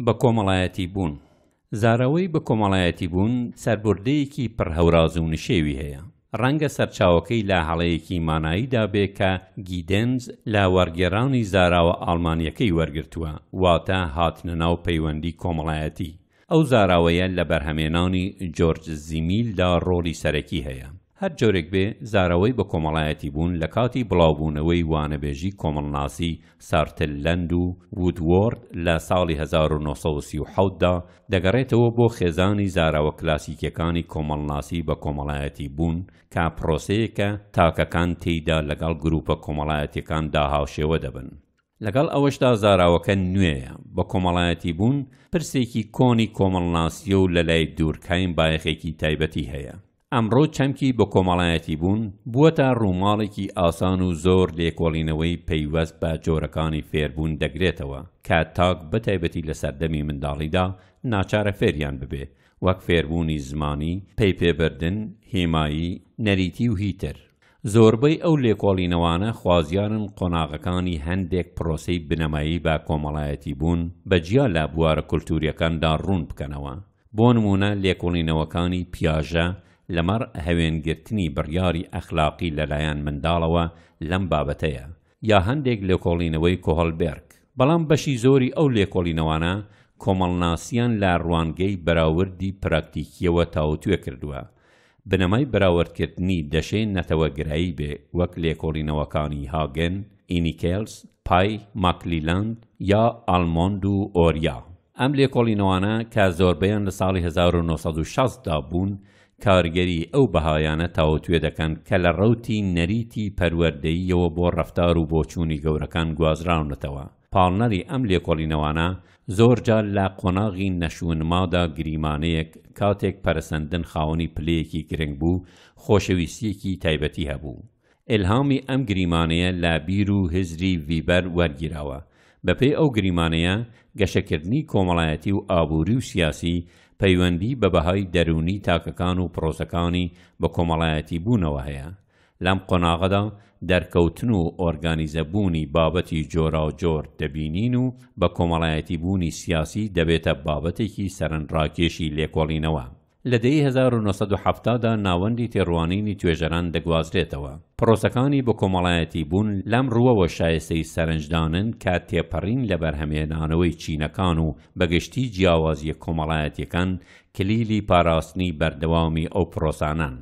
بەکۆمەڵایەتیبوون، زاراوەی بەکۆمەڵایەتیبوون سەربوردەیەکی پڕ هەوراز و نشێوی هەیە، ڕەنگە سەرچاوەکەی لە هەڵەیەکی ماناییدا بێ کە گیدێنز لە وەڕگێڕانی زاراوە ئاڵمانییەکەی وەرگرتووە، واتە هاتنە ناو پەیوەندی کۆمەڵایەتی. ئەو زاراوەیە لە بەرهەمێنانی جۆرج زیمیلدا ڕۆڵی سەرەکی هەیە. هەر جۆرێک بێ زارەوەی بە کۆمەڵایەتی بوون لە کاتی بڵاو بوونەوەی وانەبێژی کۆمەڵناسی سارتللەند و وودوۆرد لە ساڵی هەزار و نۆ سەد و سی و حەوت دا دەگەڕێتەوە بۆ خێزانی زاراوە کلاسیکیەکانی کۆمەڵناسی بە کۆمەڵایەتی بوون کە پرۆسەیەکە تاکەکان تێیدا لەگەڵ گروپە کۆمەڵایەتیەکان دا هاوشێوە دەبن. لەگەڵ ئەوەشدا زاراوەکە نوێیە بە کۆمەڵایەتی بوون پرسێکی کۆنی کۆمەڵناسیە و لە لای دورکهایم بایەخێکی تایبەتی هەیە. ئەمڕۆ چەمکی بەکۆمەڵایەتیبوون بووەتە ڕووماڵێکی ئاسان و زۆر لێکۆڵینەوەی پەیوەست بە جۆرەکانی فێربوون دەگرێتەوە کە تاک بەتایبەتی لە سەردەمی منداڵیدا ناچارە فێریان ببێ وەک فێربوونی زمانی، پەیپێبردن، هێمایی، نەریتی و هی تر. زۆربەی ئەو لێکۆڵینەوانە خوازیارن قۆناغەکانی هەندێک پرۆسەی بنەمایی بە کۆمەڵایەتیبوون بە جیا لە بوارە کولتوورییەکاندا ڕوون بکەنەوە. بۆ نموونە لێکۆڵینەوەکانی پیاژە لەمەڕ هەوێنگرتنی بڕیاری ئەخلاقی لەلایەن منداڵەوە لەم بابەتەیە، یا هەندێک لێکۆڵینەوەی کۆهڵبێرگ. بەڵام بەشی زۆری ئەو لێکۆڵینەوانە کۆمەڵناسیان لە ڕوانگەی بەراوردی پراکتیکییەوە تاووتوێ کردووە. بنەمای بەراوردکردنی دەشێ نەتەوەگرایی بێ وەک لێکۆڵینەوەکانی هاگن، ئینیکێلز، پای، ماکلیلاند، یا ئالمۆند و ئۆریا. ئەم لێکۆڵینەوانە کە زۆربەیان لە ساڵی هەزار و نۆ سەد و شەست دا بوون، کارگەری ئەو بەهایانە تاوتوێ دەکەن کە لە ڕەوتی نەریتی پەروەردەییەوە بۆ ڕەفتار و بۆچوونی گەورەکان گوازراونەتەوە. پاڵنەری ئەم لێکۆڵینەوانە زۆر جار لە قۆناغی نەشونمادا گریمانەیەک کاتێک پەرەسەندن خاوەنی پلەیەکی گرنگ بوو، خۆشەویستییەکی تایبەتی هەبوو. ئیلهامی ئەم گریمانەیە لە بیر و هزری ڤیبەر وەرگیراوە. بەپێی ئەو گریمانەیە، گەشەکردنی کۆمەڵایەتی و ئابووری و سیاسی پەیوەندی بە بەهای دەروونی تاکەکان و پرۆسەکانی بەکۆمەڵایەتیبوونەوە هەیە. لەم قۆناغەدا دەرکەوتن و ئۆرگانیزەبوونی بابەتی جۆراوجۆر دەبینین و بەکۆمەڵایەتیبوونی سیاسی دەبێتە بابەتێکی سەرنراکێشی لێکۆڵینەوە. لە دەیەی هەزار و نۆ سەد و حەفتا دا ناوەندی تێڕوانینی توێژەران دەگوازرێتەوە. پڕۆسەکانی بۆ کۆمەڵایەتی بوون لەم ڕووەوە شایستەی سەرنجدانن کە تێپەڕین لە بەرهەمهێنانەوەی چینەکان و بە گشتی جیاوازییە کۆمەڵایەتییەکان کلیلی پاراستنی بەردەوامی ئەو پڕۆسانەن.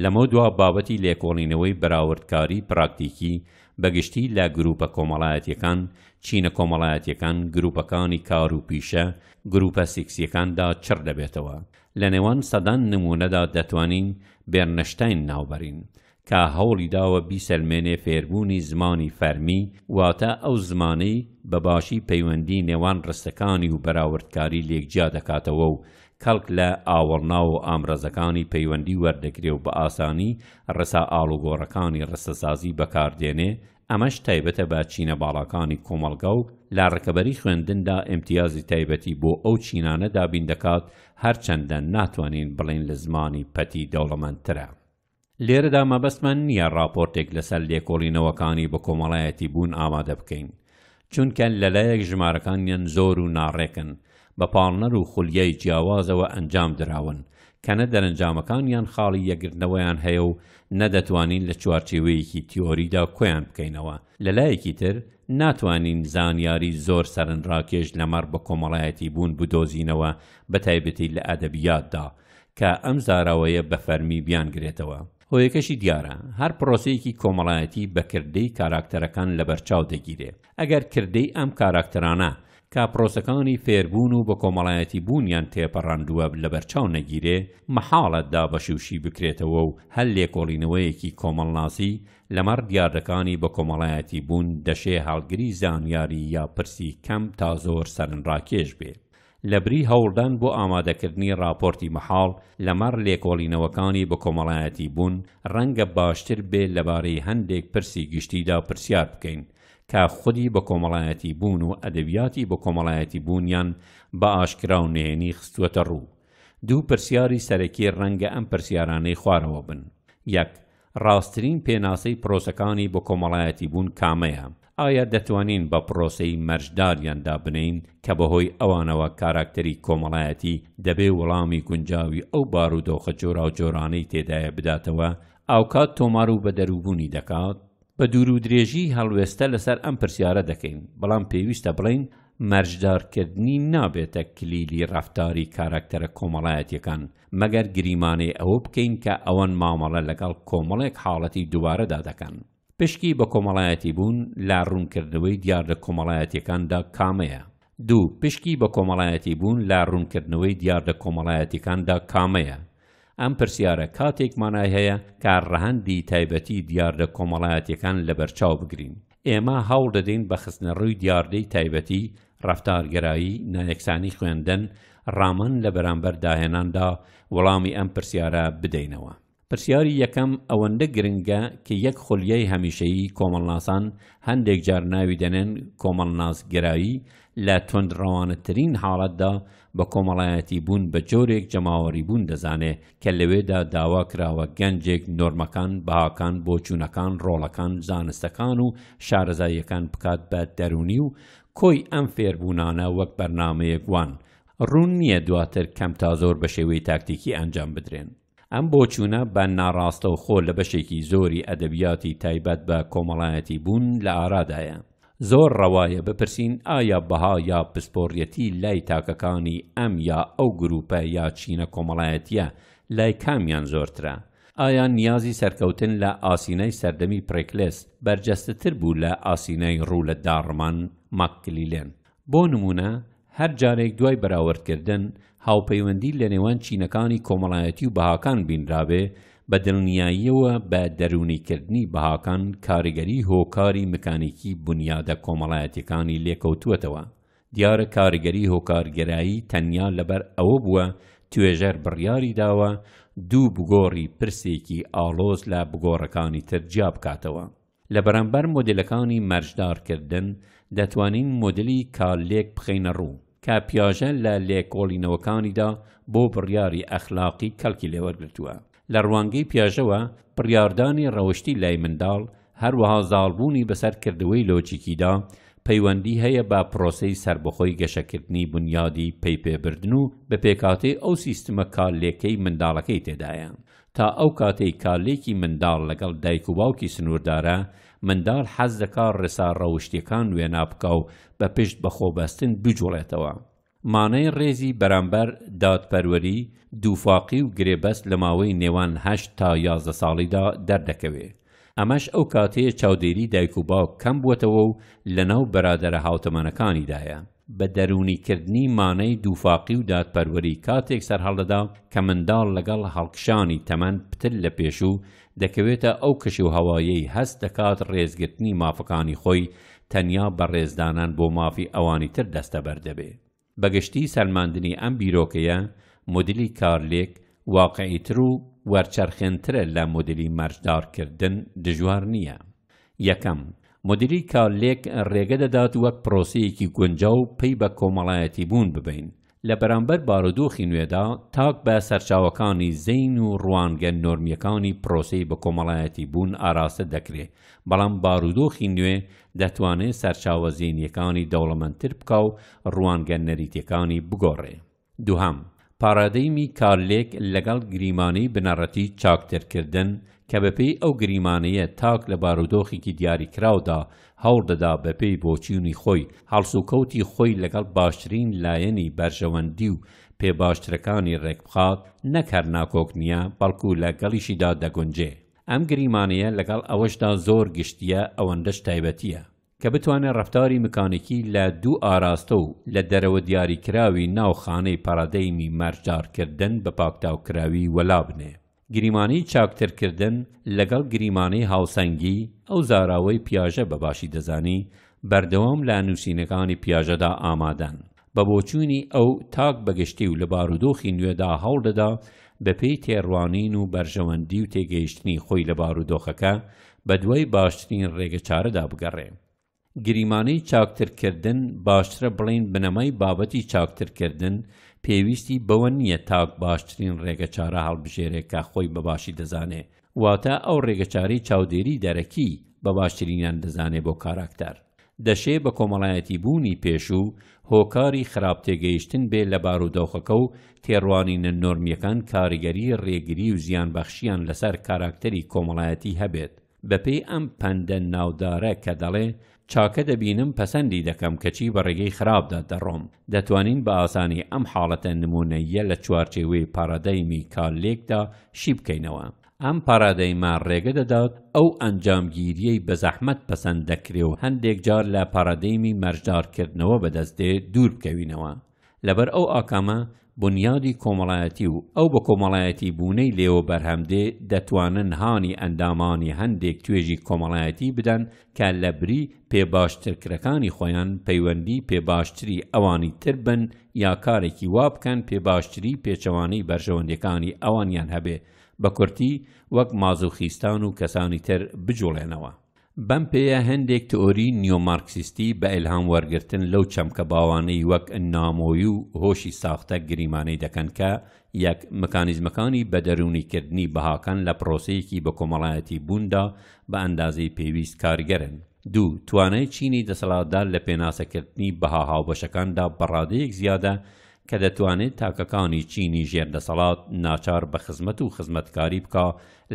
لەمەودوا بابەتی لێکۆڵینەوەی بەراوردکاری پراکتیکی بە گشتی لە گرووپە کۆمەڵایەتییەکان، چینە کۆمەڵایەتییەکان، گرووپەکانی کار و پیشە، گرووپە سیکسییەکاندا چڕ دەبێتەوە. لە نێوان سەدان نموونەدا دەتوانین بێرنشتاین ناوبەرین، کە هەوڵی داوە بیسەلمێنێ فێربوونی زمانی فەرمی واتە ئەو زمانەی بە باشی پەیوەندی نێوان ڕستەکانی و بەراوردکاری لێک جیا دەکاتەوە و کەڵک لە ئاوەڵناو و ئامرازەکانی پەیوەندی وەردەگرێ و بە ئاسانی ڕێسا ئاڵوگۆڕەکانی ڕستەسازی بەکار دێنێ، ئەمەش تایبەتە بە چینە باڵاکانی کۆمەڵگا و لە ڕکەبەری خوێندندا ئیمتیازی تایبەتی بۆ ئەو چینانە دابین دەکات، هەرچەندە ناتوانین بڵێین لە زمانی پەتی دەوڵەمەندترە. لێرەدا مەبەستمان نییە ڕاپۆرتێک لەسەر لێکۆڵینەوەکانی بەکۆمەڵایەتیبوون ئامادە بکەین، چونکە لەلایەک ژمارەکانیان زۆر و ناڕێکن، بە پاڵنەر و خولیای جیاوازەوە ئەنجام دراون، کە نە دەرەنجامەکانیان خاڵی یەکگرتنەوەیان هەیە و نە دەتوانین لە چوارچێوەیەکی تیۆریدا کۆیان بکەینەوە، لەلایەکی تر ناتوانین زانیاری زۆر سەرنراکێش لەمەڕ بەکۆمەڵایەتیبوون بدۆزینەوە بەتایبەتی لە ئەدەبیاتدا، کە ئەم زاراوەیە بە فەرمی بیانگرێتەوە. هۆیەکەشی دیارە، هەر پرۆسەیەکی کۆمەڵایەتی بە کردەی کاراکتەرەکان لەبەرچاو دەگیرێ. ئەگەر کردەی ئەم کاراکتەرانە کە پرۆسەکانی فێربوون و بە کۆمەڵایەتی بوونیان تێپەڕاندووە لەبەرچاو نەگیرێ، مەحاڵە دابەشی و شی بکرێتەوە و هەر لێکۆڵینەوەیەکی کۆمەڵناسی لەمەڕ دیاردەکانی بە کۆمەڵایەتی بوون دەشێ هەڵگری زانیاری یا پرسی کەم تا زۆر سەرنراکێش بێ. لەبری هەوڵدان بۆ ئامادەکردنی ڕاپۆرتی مەحاڵ لەمەڕ لێکۆڵینەوەکانی بەکۆمەڵایەتی بوون، ڕەنگە باشتر بێ لەبارەی هەندێک پرسی گشتیدا پرسیار بکەین، کە خودی بەکۆمەڵایەتی بوون و ئەدەبیاتی بەکۆمەڵایەتی بوونیان بە ئاشکرا و نهێنی خستووەتە ڕوو. دوو پرسیاری سەرەکی ڕەنگە ئەم پرسیارانەی خوارەوە بن، یەک، ڕاستترین پێناسەی پرۆسەکانی بەکۆمەڵایەتیبوون کامەیە؟ ئایا دەتوانین بە پرۆسەی مەرج داریان دابنێین کە بەهۆی ئەوانەوە کاراکتەری کۆمەڵایەتی دەبێ وڵامی گونجاوی ئەو بارودۆخە جۆراوجۆرانەی تێدایە بداتەوە ئاوکات تۆمار و بەدەرووبوونی دەکات؟ بە دوورودرێژی هەڵوێستە لەسەر ئەم پرسیارە دەکەین، بەڵام پێویستە بڵێین مەرجدارکردنی نابێتە کلیلی ڕەفتاری کاراکتەرە کۆمەڵایەتییەکان مەگەر گریمانەی ئەوە بکەین کە ئەوان مامەڵە لەگەڵ کۆمەڵێک حاڵەتی دووبارەدا دەکەن. پشکی بە کۆمەڵایەتی بوون لە ڕوونکردنەوەی دیاردە کۆمەڵایەتیەکاندا کامەیە؟ دوو، پشکی بە کۆمەڵایەتی بوون لە ڕوونکردنەوەی دیاردە کۆمەڵایەتیەکاندا کامەیە؟ ئەم پرسیارە کاتێک مانای هەیە کە ڕەهەندی تایبەتی دیاردە کۆمەڵایەتیەکان لەبەرچاو بگرین. ئێمە هەوڵ دەدەین بە خستنەڕووی دیاردەی تایبەتی، ڕەفتارگەرایی، نایەکسانی خوێندن، ڕامن لە بەرامبەر داهێناندا، وەڵامی ئەم پرسیارە بدەینەوە. پرسیاری یەکەم ئەوەندە گرنگە کە یەک خولیای هەمیشەیی کۆمەڵناسان هەندێک جار ناوی دەنێن کۆمەڵناسگەرایی، لە توندڕەوانەترین حاڵەتدا بە کۆمەڵایەتی بوون بە جۆرێک جەماوەری بوون دەزانێ کە لەوێدا داوا کراوە گەنجێک نۆرمەکان، بەهاکان، بۆچوونەکان، ڕۆڵەکان، زانستەکان و شارەزاییەکان بکات بە دەروونی و کۆی ئەم فێربوونانە وەک بەرنامەیەک وان، ڕوون نییە دواتر کەم تا زۆر بە شێوەی تاکتیکی ئەنجام بدرێن. ئەم بۆچوونە بە ناڕاستەوخۆ لە بەشێکی زۆری ئەدەبیاتی تایبەت بە کۆمەڵایەتی بوون لە ئارادایە. زۆر ڕەوایە بپرسین ئایا بەها یا پسپۆڕیەتی لای تاکەکانی ئەم یا ئەو گرووپە یا چینە کۆمەڵایەتییە لای کامیان زۆرترە؟ ئایا نیازی سەرکەوتن لە ئاسینای سەردەمی پڕێکلێس بەرجەستەتر بوو لە ئاسینای ڕوو لە داڕمان، ماککلیلێن؟ بۆ نموونە هەر جارێک دوای بەراوردکردن هاوپەیوەندی لە نێوان چینەکانی کۆمەڵایەتی و بەهاکان بینرابێ، بە دڵنیاییەوە بە دەروونیکردنی بەهاکان کاریگەری هۆکاری مکانیکی بونیادە کۆمەڵایەتیەکانی لێکەوتووەتەوە. دیارە کاریگەری هۆکارگەرایی تەنیا لەبەر ئەوە بووە توێژەر بڕیاری داوە دوو بگۆڕی پرسێکی ئاڵۆز لە بگۆڕەکانی تر جیابکاتەوە. لە بەرامبەر مۆدێلەکانی مەرجدارکردن، دەتوانین مۆدێلی کارلێک بخەینەڕوو، کە پیاژە لە لێکۆڵینەوەکانیدا بۆ بڕیاری ئەخلاقی کەڵکی لێوەرگرتووە. لە ڕوانگەی پیاژەوە، بڕیاردانی ڕەوشتی لای منداڵ، هەروەها زاڵبوونی بەسەر کردەوەی لۆجیکیدا، پەیوەندی هەیە بە پرۆسەی سەربەخۆی گەشەکردنی بونیادی پەیپێبردن و بە پێکهاتەی ئەو سیستمە کارلێکەی منداڵەکەی تێدایە. تا ئەو کاتەی کارلێکی منداڵ لەگەڵ دایک و باوکی سنووردارە، منداڵ حەز دەکا ڕێسا ڕەوشتییەکان وێنا بکا و بە پشت بە خۆ بەستن بجووڵێتەوە. مانای ڕێزی بەرامبەر دادپەروەری، دووفاقی و گرێبەست لە ماوەی نێوان هەشت تا یازدە ساڵیدا دەردەکەوێ. ئەمەش ئەو کاتەیە چاودێری دایک و باوک کەم بووەتەوە و لەناو بەرادەرە هاوتەمەنەکانیدایە. بە دەروونی کردنی مانەی دووفاقی و دادپەروەری کاتێک سەرهەڵدەدا کە منداڵ لەگەڵ هەڵکشانی تەمەن پتر لە پێشوو دەکەوێتە ئەو کەشوهەوایەی هەست دەکات ڕێزگرتنی مافەکانی خۆی تەنیا بە ڕێزدانان بۆ مافی ئەوانی تر دەستەبەر دەبێ. بە گشتی سەلماندنی ئەم بیرۆکەیە مودیلی کارلێک واقعیتر و وەرچەرخێنترە لە مودیلی مەرجدار کردن دژوار نییە. یەکەم، مدیری کارلێک ڕێگە دەدات وەک پرۆسەیەکی گونجاو پەی بە کۆمەڵایەتیبوون ببەین. لە بەرامبەر بارودۆخی نوێدا، تاک بە سەرچاوەکانی زەین و ڕوانگە نۆرمییەکانی پرۆسەی بەکۆمەڵایەتیبوون ئاراستە دەکرێ، بەڵام بارودۆخی نوێ دەتوانێ سەرچاوە زەینییەکانی دەوڵەمەندتر بکا و ڕوانگە نەریتییەکانی بگۆڕێ. دوهەم، پاڕادەیمی کارلێک لەگەڵ گریمانەی بنەڕەتی چاکترکردن کە بەپێی ئەو گریمانەیە تاک لە بارودۆخێکی دیاریکراودا هەوڵ دەدا بەپێی بۆچیونی خۆی هەڵسوکەوتی خۆی لەگەڵ باشترین لایەنی بەرژەوەندی و پێ باشترەکانی ڕێکبخات نەک هەر ناکۆک نیە بەڵکو لە گەڵیشیدا دەگونجێ ئەم گریمانەیە لەگەڵ ئەوەشدا زۆر گشتیە ئەوەندەش تایبەتیە کە بتوانێت ڕەفتاری مکانیکی لە دوو ئاراستە و لە دەرەوە دیاریکراوی ناو خانەی پارادەیمی مەرجدارکردن بە پاکتاوکراوی وەلا بنێ. گریمانەی چاکترکردن لەگەڵ گریمانەی هاوسەنگی، ئەو زاراوەی پیاژە بە باشی دەزانی، بەردەوام لە نووسینەکانی پیاژەدا ئامادەن. بە بۆچوونی ئەو، تاک بە گشتی و لە بارودۆخی نوێدا هەوڵدەدا بەپێی تێڕوانین و بەرژەوەندی و تێگەیشتنی خۆی لە بارودۆخەکە، بەدوای باشترین ڕێگەچارەدا بگەڕێ. گریمانەی چاکترکردن، باشترە بڵێین بنەمای بابەتی چاکترکردن، پێویستی بەوە نییە تاک باشترین ڕێگەچارە هەڵبژێرێ کە خۆی بە باشی دەزانێ، واتە ئەو ڕێگەچارەی چاودێری دەرەکی بە باشترینیان دەزانێ بۆ کاراکتەر، دەشێ بە کۆمەڵایەتیبوونی پێشوو هۆکاری خراپ تێگەیشتن بێ لە بارودۆخەکە و تێڕوانینە نۆرمییەکان کاریگەری ڕێگری و زیانبەخشیان لەسەر کاراکتەری کۆمەڵایەتی هەبێت بەپێی ئەم پەندە ناودارە کە دەڵێ چاکە دەبینم پەسەندی دەکەم کەچی بە ڕێگەی خراپدا دەڕۆم، دەتوانین بە ئاسانی ئەم حاڵەتە نموونەییە لە چوارچێوەی پارادایمی کارلێکدا شی بکەینەوە. ئەم پارادایمە ڕێگە دەدات ئەو ئەنجامگیرییەی بە زەحمەت پەسەند دەکرێ و هەندێک جار لە پارادایمی مەرجدارکردنەوە بەدەست دێ دوور بکەوینەوە. لەبەر ئەو ئاکامە بونیادی کۆمەڵایەتی و ئەو بەکۆمەڵایەتی بوونەی لێوە بەرهەم دێ دەتوانن هانی ئەندامانی هەندێک توێژی کۆمەڵایەتی بدەن کە لە بری پێ باشترکرەکانی خۆیان پەیوەندی پێ باشتری ئەوانی تر بن یا کارێکی وا بکەن پێ باشتری پێچەوانەی بەرژەوەندیەکانی ئەوانیان هەبێ بە کورتی وەک مازوخیستان و کەسانی تر بجوڵێنەوە بەم پێیە هەندێک تئۆریی نیۆمارکسیستی بە ئیلهام وەرگرتن لەو چەمکە باوانەی وەک نامۆیی و هۆشی ساختە گریمانەی دەکەن کە یەک مکانیزمەکانی بەدەروونیکردنی بەهاکان لە پرۆسەیەکی بەکۆمەڵایەتی بووندا بە ئەندازەی پێویست کارگەرن. دوو، توانای چینی دەسەڵاتدار لە پێناسەکردنی بەها هاوبەشەکاندا بە ڕادەیەک زیادە کە دەتوانێت تاکەکانی چینی ژێر دەسەڵات ناچار بە خزمەت و خزمەتکاری بکا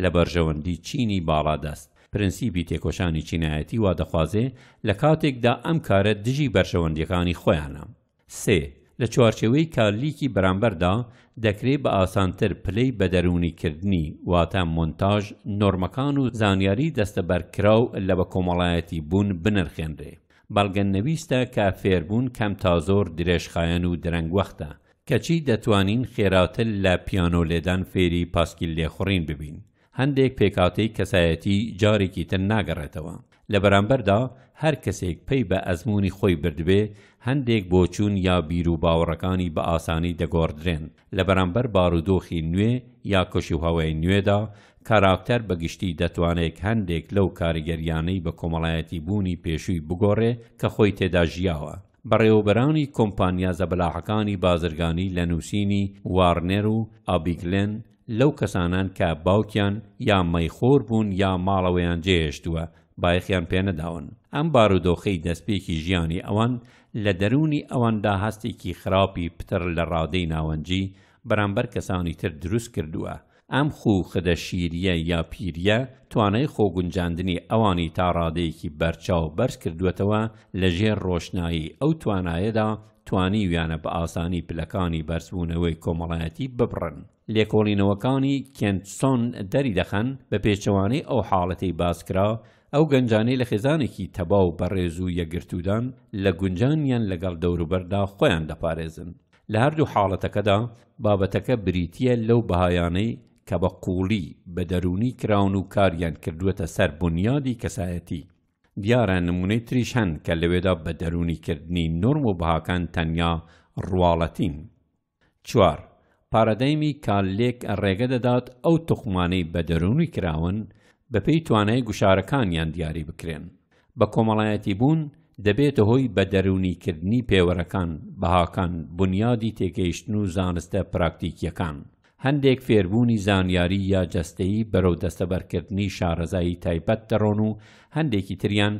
لە بەرژەوەندی چینی باڵادەست، پرنسیپی تێکۆشانی چینایەتی وا دەخوازێ لە کاتێکدا ئەم کارە دژی بەرژەوەندییەکانی خۆیانە. سێ، لە چوارچێوەی کارلیکی بەرامبەردا، دەکرێ بە ئاسانتر پلەی بەدەروونیکردنی، واتە مۆنتاژ، نۆرمەکان و زانیاریی دەستەبەرکراو لە بەکۆمەڵایەتی بوون بنرخێنرێ. بەڵگە نەویستە کە فێربوون کەم تا زۆر درێژخایەن و درەنگوەختە، کەچی دەتوانین خێراتر لە پیانۆ لێدان فێری پاسکیل لێخوڕین ببین. هەندێک پێکهاتەی کەسایەتی جارێکی تر ناگەڕێتەوە، لە بەرامبەردا هەر کەسێک پەی بە ئەزموونی خۆی بردبێ، هەندێک بۆچوون یا بیروباوەڕەکانی بە ئاسانی دەگۆڕدرێن. لە بەرامبەر بارودۆخی نوێ یا کەشوهەوای نوێدا، کاراکتەر بە گشتی دەتوانێک هەندێک لەو کاریگەرییانەی بە کۆمەڵایەتی بوونی پێشووی بگۆڕێ کە خۆی تێدا ژیاوە. بەڕێوەبەرانی کۆمپانیا زەبەلاحەکانی بازرگانی لە نووسینی وارنێر و ئابیگلێن، لەو کەسانەن کە باوکیان یا مەیخۆر بوون یا ماڵەوەیان جێهێشتووە بایەخیان پێنەداون، ئەم بارودۆخەی دەستپێکی ژیانی ئەوان لە دەروونی ئەواندا هەستێکی خراپی پتر لە ڕادەی ناوەنجی بەرامبەر کەسانی تر دروست کردووە، ئەم خوو خدە شیرییە یا پیرییە توانای خۆگونجاندنی ئەوانی تا ڕادەیەکی بەرچاو بەرز کردووەتەوە لە ژێر ڕۆشنایی ئەو توانایەدا توانیویانە بە ئاسانی پلەکانی بەرزبوونەوەی کۆمەڵایەتی ببڕن. لێکۆڵینەوەکانی کێنتسۆن دەریدەخەن، بە پێچەوانەی ئەو حاڵەتەی باسکرا، ئەو گەنجانەی لە خێزانێکی تەبا و بەڕێز و یەکگرتوودان، لە گونجانیان لەگەڵ دەوروبەردا خۆیان دەپارێزن. لە هەردوو حاڵەتەکەدا، بابەتەکە بریتییە لەو بەهایانەی کە بە قووڵی بە دەروونی کراون و کاریان کردووەتە سەر بونیادی کەسایەتی. دیارە نموونەی تریش هەن کە لەوێدا بە دەروونی کردنی نۆرم و بەهاکان تەنیا ڕواڵەتین. چوار، پارادایمی کاللێک ڕێگە دەدات ئەو توخمانەی بە دەروونی کراون بەپێی توانای گوشارەکانیان دیاری بکرێن. بە کۆمەڵایەتی بوون دەبێتە هۆی بە دەروونی کردنی پێوەرەکان، بەهاکان، بونیادی تێگەیشتن و زانستە پراکتیکییەکان. هەندێک فێربوونی زانیاری یا جەستەیی بەرەو دەستەبەرکردنی شارەزایی تایبەت دەڕۆن و هەندێکی تریان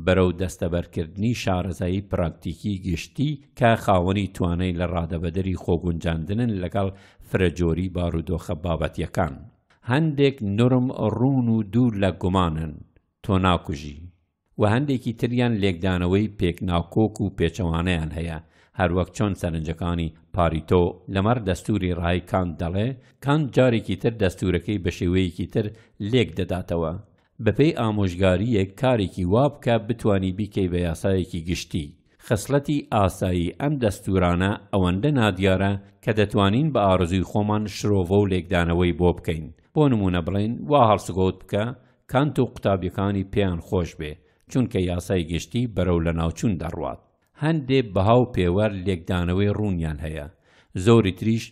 بەرەو دەستەبەرکردنی شارەزایی پراکتیکی گشتی کە خاوەنی توانای لە ڕادەبەدەری خۆگونجاندنن لەگەڵ فرەجۆری بارودۆخە بابەتییەکان. هەندێک نۆرم ڕوون و دوور لە گومانن، تۆ ناکوژی. و هەندێکی تریان لێکدانەوەی پێک ناکۆک و پێچەوانەیان هەیە، هەروەک چۆن سەرنجەکانی، پاریتۆ، لەمەڕ دەستووری ڕای کانت دەڵێ، کانت جارێکی تر دەستوورەکەی بە شێوەیەکی تر لێک دەداتەوە، بەپێی ئامۆژگارییەک کارێکی وا بکە بتوانی بیکەی بە یاسایەکی گشتی. خسڵەتی ئاسایی ئەم دەستوورانە ئەوەندە نادیارە کە دەتوانین بە ئارەزووی خۆمان شرۆڤە و لێکدانەوەی بۆ بکەین، بۆ نموونە بڵێین وا هەڵسوکەوت بکە کانت و قوتابیەکانی پێیان خۆش بێ چونکە یاسای گشتی بەرەو لەناوچون دەڕوات هەندێ بەها و پێوەر لێکدانەوەی ڕونیان هەیە زۆری تریش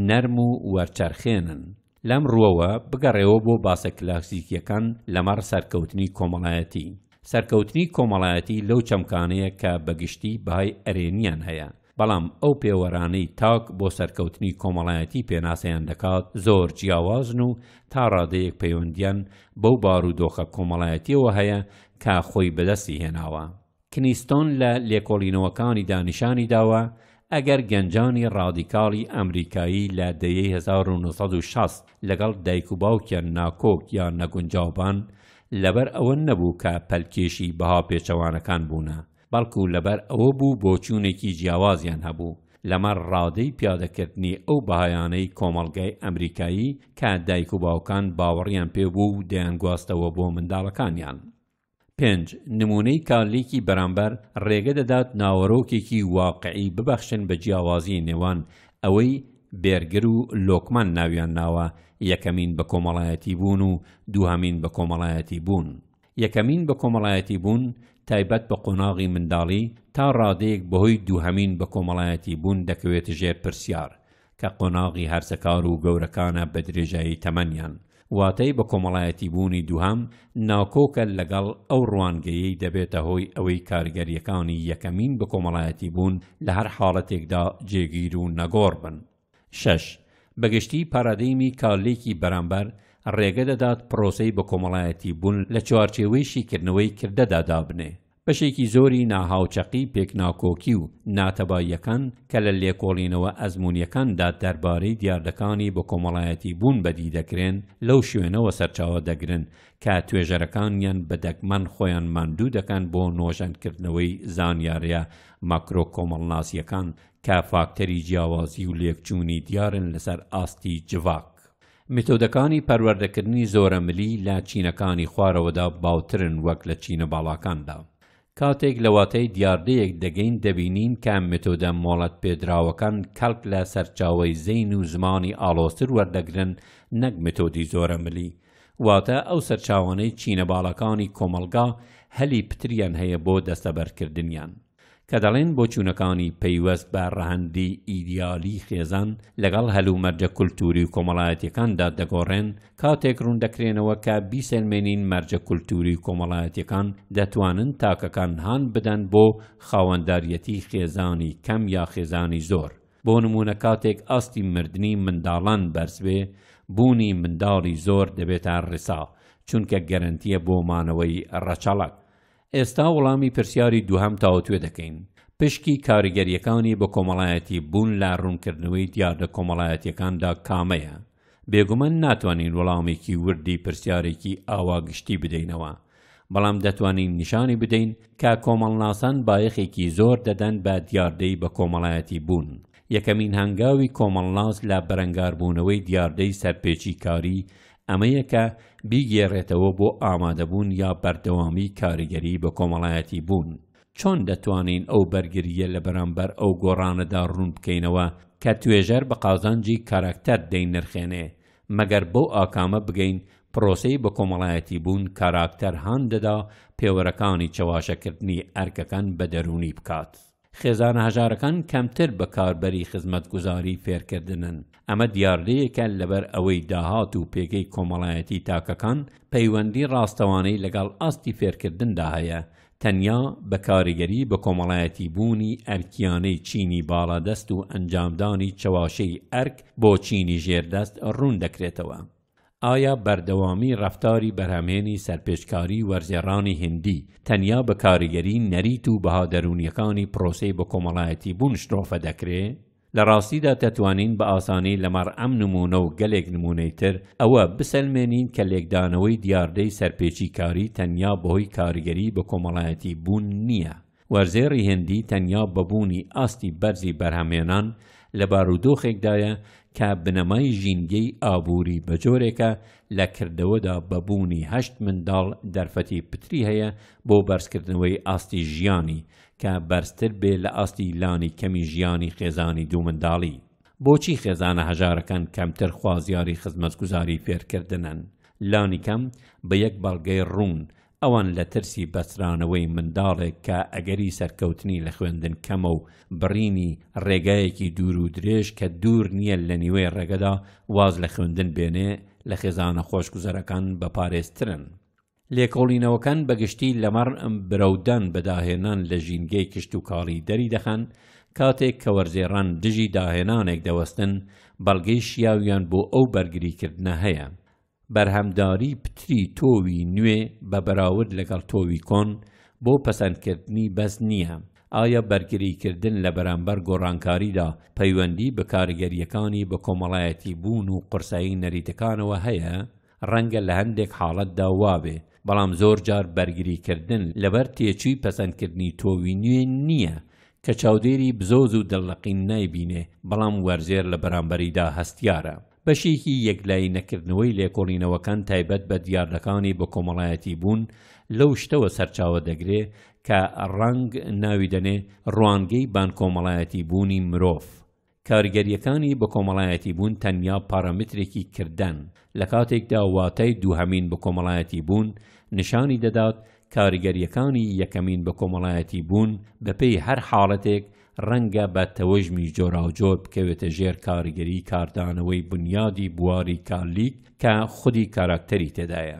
نەرم و وەرچەرخێنن لەم ڕوەوە بگەڕێوە بۆ باسە کلاسیکیەکان لەمەڕ سەرکەوتنی کۆمەڵایەتی سەرکەوتنی کۆمەڵایەتی لەو چەمکانەیە کە بەگشتی بەهای ئەرێنیان هەیە بەڵام ئەو پێوەرانەی تاک بۆ سەرکەوتنی کۆمەڵایەتی پێناسەیان دەکات زۆر جیاوازن و تا ڕادەیەک پەیوەندیان بەو بارودۆخە کۆمەڵایەتیەوە هەیە کە خۆی بەدەستی هێناوە. کنیستۆن لە لێکۆڵینەوەکانیدا نیشانی داوە ئەگەر گەنجانی ڕادیکاڵی ئەمریکایی لە دەیەی هەزار و نۆ سەد و شەست لەگەڵ دایک و باوکیان ناکۆک یا نەگونجاوبان، لەبەر ئەوە نەبوو کە پەلکێشی بەها پێچەوانەکان بوونە، بەڵکو لەبەر ئەوە بوو بۆچوونێکی جیاوازیان هەبوو لەمەڕ ڕادەی پیادەکردنی ئەو بەهایانەی کۆمەڵگای ئەمریکایی کە دایک و باوکان باوەڕیان پێ بوو و دەیانگواستەوە بۆ منداڵەکانیان. پێنج، نموونەی کارلیکی بەرامبەر ڕێگە دەدات ناوەرۆکێکی واقعی ببەخشن بە جیاوازیی نێوان ئەوەی بێرگر و لۆکمان ناویان ناوە یەکەمین بەکۆمەڵایەتیبوون و دووهەمین بەکۆمەڵایەتیبوون. یەکەمین بەکۆمەڵایەتی بوون تایبەت بە قۆناغی منداڵی تا ڕادەیەک بەهۆی دووهەمین بەکۆمەڵایەتی بوون دەکەوێتە ژێر پرسیار، کە قۆناغی هەرزەکار و گەورەکانە بە درێژایی تەمەنیان. واتای بەکۆمەڵایەتی بوونی دووهەم ناکۆکە لەگەڵ ئەو ڕوانگەیەی دەبێتە هۆی ئەوەی کاریگەرییەکانی یەکەمین بەکۆمەڵایەتی بوون لە هەر حاڵەتێکدا جێگیر و نەگۆڕ بن. شەش، بەگشتی پارادەیمی کارلێکی بەرامبەر ڕێگە دەدات پڕۆسەی بەکۆمەڵایەتی بوون لە چوارچێوەی شیکردنەوەی کردەدا دابنێ. بەشێکی زۆری ناهاوچەقی پێکناکۆکی و ناتەباییەکان کە لە لێکۆڵینەوە ئەزموونیەکاندا دەربارەی دیاردەکانی بەکۆمەڵایەتی بوون بەدی دەکرێن لەو شوێنەوە سەرچاوە دەگرن کە توێژەرەکانیان بە دەگمەن خۆیان ماندوو دەکەن بۆ نۆژەنکردنەوەی زانیاریە ماکرۆ کۆمەڵناسیەکان کە فاکتەری جیاوازی و لێکچوونی دیارن لەسەر ئاستی جڤاک. میتۆدەکانی پەروەردەکردنی زۆرەملی لە چینەکانی خوارەوەدا باوترن وەک لە چینە باڵاکاندا. کاتێک لە واتای دیاردەیەک دەگەین دەبینین کە میتۆدە مۆڵەتپێدراوەکان کەڵک لە سەرچاوەی زەین و زمانی ئاڵۆزتر وەردەگرن نەک میتۆدی زۆرەملی، واتە ئەو سەرچاوانەی چینە باڵاکانی کۆمەڵگا هەلی پتریان هەیە بۆ دەستەبەرکردنیان. کە دەڵێن بۆچوونەکانی پەیوەست بە ڕەهەندی ئیدیالی خێزان لەگەڵ هەلومەرجە کولتووری و کۆمەڵایەتییەکاندا دەگۆڕێن، کاتێک ڕووندەکرێنەوە کە بیسەلمێنین مەرجە کولتووری و کۆمەڵایەتییەکان دەتوانن تاکەکان هان بدەن بۆ خاوەنداریەتی خێزانی کەم یا خێزانی زۆر، بۆ نموونە کاتێک ئاستی مردنی منداڵان بەرز بێ، بوونی منداڵی زۆر دەبێتە ڕێسا، چونکە گەرەنتییە بۆ مانەوەی ڕەچەڵەک. ئێستا وڵامی پرسیاری دووهەم تاوتوێ دەکەین، پشکی کاریگەرییەکانی بەکۆمەڵایەتی بوون لە ڕوونکردنەوەی دیاردە کۆمەڵایەتییەکاندا کامەیە؟ بێگومان ناتوانین وڵامێکی وردی پرسیارێکی ئاوا گشتی بدەینەوە، بەڵام دەتوانین نیشانی بدەین کە کۆمەڵناسان بایەخێکی زۆر دەدەن بە دیاردەی بەکۆمەڵایەتی بوون. یەکەمین هەنگاوی کۆمەڵناس لە بەرەنگاربوونەوەی دیاردەی سەرپێچیکاری ئەمە یەکە بیگێڕێتەوە بۆ ئامادەبوون یا بەردەوامیی کاریگەری بەکۆمەڵایەتی بوون. چۆن دەتوانین ئەو بەرگرییە لە بەرامبەر ئەو گۆڕانەدا ڕوون بکەینەوە کە توێژەر بە قازانجی کاراکتەر دەینرخێنێ؟ مەگەر بەو ئاکامە بگەین پرۆسەی بەکۆمەڵایەتی بوون کاراکتەر هان دەدا پێوەرەکانی چەواشەکردنی ئەرکەکان بە دەروونی بکات. خێزانە هەژارەکان کەمتر بەکاربەری خزمەتگوزاری فێرکردنن، ئەمە دیاردەیەکە لەبەر ئەوەی داهات و پێگەی کۆمەڵایەتی تاکەکان پەیوەندی ڕاستەوانەی لەگەڵ ئاستی فێرکردندا هەیە، تەنیا بە کاریگەری بەکۆمەڵایەتیبوونی ئەرکییانەی چینی باڵادەست و ئەنجامدانی چەواشەی ئەرک بۆ چینی ژێردەست ڕوون دەکرێتەوە. ئایا بەردەوامی ڕەفتاری بەرهەمهێنی سەرپێچکاری وەرزێڕانی هیندی تەنیا بە کاریگەری نەریت و بەها دەروونییەکانی پرۆسەی بەکۆمەڵایەتیبوون شرۆڤە دەکرێ؟ لە ڕاستیدا دەتوانین بە ئاسانی لەمەڕ ئەم نموونە و گەلێک نموونەی تر ئەوە بسەلمێنین کە لێکدانەوەی دیاردەی سەرپێچیکاری تەنیا بەهۆی کاریگەری بەکۆمەڵایەتیبوون نییە، وەرزێڕی هندی تەنیا بە بوونی ئاستی بەرزی بەرهەمهێنان لە بارودۆخێکدایە کە بنەمای ژینگەی ئابووری بە جۆرێکە لە کردەوەدا بە بوونی هەشت منداڵ دەرفەتی پتری هەیە بۆ بەرزکردنەوەی ئاستی ژیانی کە بەرزتر بێ لە ئاستی لانی کەمی ژیانی خێزانی دوو منداڵی. بۆچی خێزانە هەژارەکان کەمتر خوازیاری خزمەتگوزاری فێرکردنن؟ لانیکەم بە یەک بەڵگەی ڕوون، ئەوان لە ترسی بەسترانەوەی منداڵێک کە ئەگەری سەرکەوتنی لە خوێندن کەمە و بڕینی ڕێگایەکی دوور و درێژ کە دوور نییە لە نیوەی ڕێگەدا واز لە خوێندن بێنێ لە خێزانە خۆشگوزەرەکان بەپارێزترن. لێکۆڵینەوەکان بەگشتی لەمەڕ برەودان بە داهێنان لە ژینگەی کشتوکاڵی دەریدەخەن، کاتێک کە وەرزێڕان دژی داهێنانێک دەوەستن، بەڵگەی شیاویان بۆ ئەو بەرگریکردنە هەیە. بەرهەمداری پتری تۆوی نوێ بە بەراورد لەگەڵ تۆوی کۆن بۆ پەسەندکردنی بەس نییە، ئایا بەرگریکردن لە بەرامبەر گۆڕانکاریدا پەیوەندی بە کاریگەرییەکانی بەکۆمەڵایەتیبوون و قورسایی نەریتەکانەوە هەیە؟ ڕەنگە لە هەندێک حاڵەتدا وابێ، بەڵام زۆرجار بەرگریکردن لەبەر تێچووی پەسەندکردنی تۆوی نوێ نییە کە چاودێری بزۆز و دڵلەقین نایبینێ، بەڵام وەرزێر لە بەرامبەریدا هەستیارە. بەشێکی یەکلایی نەکردنەوەی لێکۆڵینەوەکان تایبەت بە دیاردەکانی بەکۆمەڵایەتی بوون لەو شتەوە سەرچاوە دەگرێ کە ڕانگ ناوی دەنێ ڕوانگەی بانکۆمەڵایەتی بوونی مرۆڤ. کاریگەرییەکانی بەکۆمەڵایەتی بوون تەنیا پارامترێکی کردەن، لە کاتێکدا واتای دووهەمین بەکۆمەڵایەتی بوون نیشانی دەدات کاریگەرییەکانی یەکەمین بەکۆمەڵایەتی بوون بەپێی هەر حاڵەتێک ڕەنگە بە تەوژمی جۆراوجۆر بکەوێتە ژێر کاریگەریی کاردانەوەی بونیادی بواری کارلیک کە خودی کاراکتەری تێدایە.